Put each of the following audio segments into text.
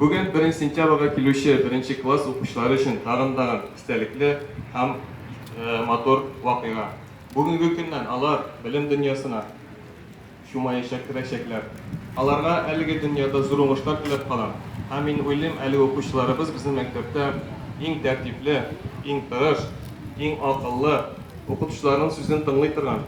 Бүген беренче сентябрьгә килүче беренче класс укучылары өчен тагын да истәлекле һәм матур вакыйга. Бүгенге көннән алар белем дөньясына чумаячак керәчәкләр. Аларга әлеге дөньяда зур уңышлар теләп калам һәм мин уйлыйм, әлеге укучыларыбыз безнең мәктәптә иң тәртипле, иң тырыш, иң акыллы, укытучыларның сүзен тыңлый торган,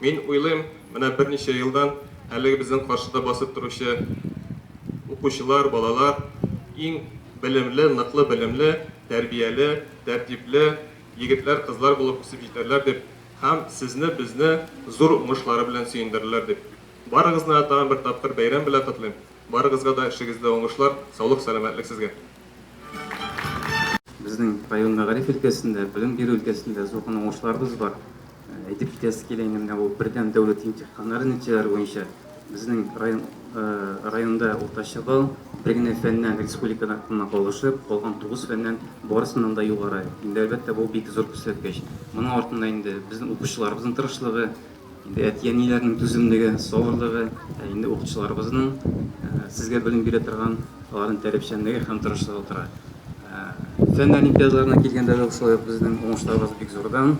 Мин уйлыйм, менә берничә елдан әлеге безнең каршыда басып торучы укучылар, балалар иң белемле, ныклы белемле, тәрбияле, тәртипле егетләр, кызлар булып үсеп җитәрләр дип һәм сезне, безне зур уңышлары белән сөендерерләр дип, барыгызны да тагын бер тапкыр бәйрәм белән котлыйм. Барыгызга да эшегездә уңышлар, саулык-сәламәтлек сезгә! Безнең район мәгариф өлкәсендә, белем бирү өлкәсендә зур гына уңышларыбыз бар. Әйтеп китәсе килә инде, менә бу бердәм дәүләт имтиханнары нәтиҗәләре буенча безнең район, районда уртача балл бер генә фәннән республикада кына калышып, калган тугыз фәннән барысыннан да югары. Инде, әлбәттә, бу бик зур күрсәткеч. Моның артында инде безнең укучыларыбызның тырышлыгы, Инде әти-әниләрнең түземлеге, сабырлыгы, ә инде укытучыларыбызның сезгә белем бирә торган аларның таләпчәнлеге һәм тырышлыгы тора. Фән олимпиадаларына килгәндә дә шулай ук безнең уңышларыбыз бик зурдан.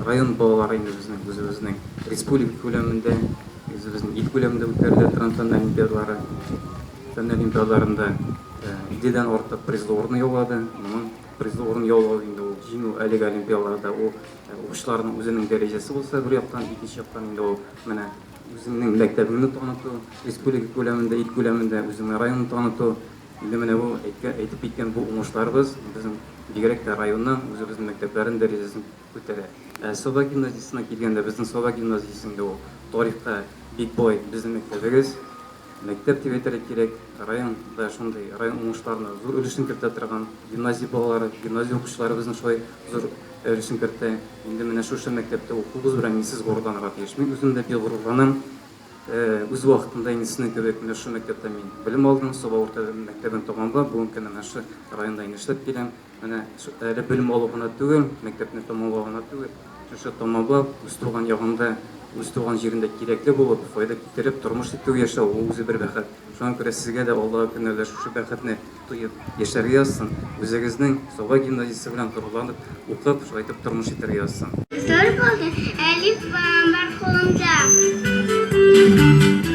Район балалары инде безнең үзебезнең республика күләмендә, үзебезнең ил күләмендә үткәрелә торган фән олимпиадалары, фән олимпиадаларында 50 дән артык призлы урын яулады. Моның призлы урын яулау инде ул җиңү, әлеге олимпиадаларда ул Укучыларның үзенең дәрәҗәсе булса бер яктан, икенче яктан инде ул менә үзеңнең мәктәбеңне таныту, республика күләмендә, ил күләмендә үзеңнең районны таныту. Инде менә бу әйткән, әйтеп киткән бу уңышларыбыз безнең бигрәк тә районның, үзебезнең мәктәпләрнең дәрәҗәсен күтәрә. Ә Саба гимназиясенә килгәндә, безнең Саба гимназиясе инде ул тарихка бик бай безнең мәктәбегез. Мәктәп дип әйтергә кирәк, район да шундый, район уңышларына зур өлешен кертә торган, гимназия балалары, гимназия укучылары безнең шулай зур өлешен кертә. Инде менә шушы мәктәптә укуыбыз белән мин сез горурланырга тиеш. Мин үзем дә бик горурланам. Үз вакытында инде сезнең кебек менә шушы мәктәптә мин белем алдым, Саба урта мәктәбен тәмамлап, бүген кенә менә шушы районда инде эшләп киләм. Менә әле белем алу гына түгел, мәктәпне тәмамлау гына түгел, шушы тәмамлап, үз туган ягында, үз туган җирендә кирәкле булып, файда китереп, тормыш итү яшәү, ул үзе бер бәхет. Шуңа күрә сезгә дә Аллаһы көнәлә шушы бәхетне тоеп яшәргә язсын, үзегезнең Саба гимназиясе белән горурланып укып, шулай итеп тормыш итәргә язсын. Зур булды, әлим Балам бар кулымда.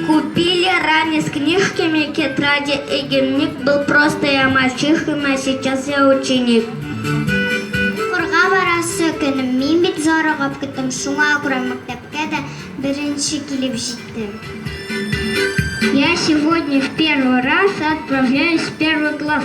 Купили ранец книжками тетради и дневник был просто я мальчихим а сейчас я ученик. Укырга барасы көн, мин бит зарыгып көттем, шуңа күрә мәктәпкә дә беренче килеп җиттем. Я сегодня в первый раз отправляюсь в первый класс.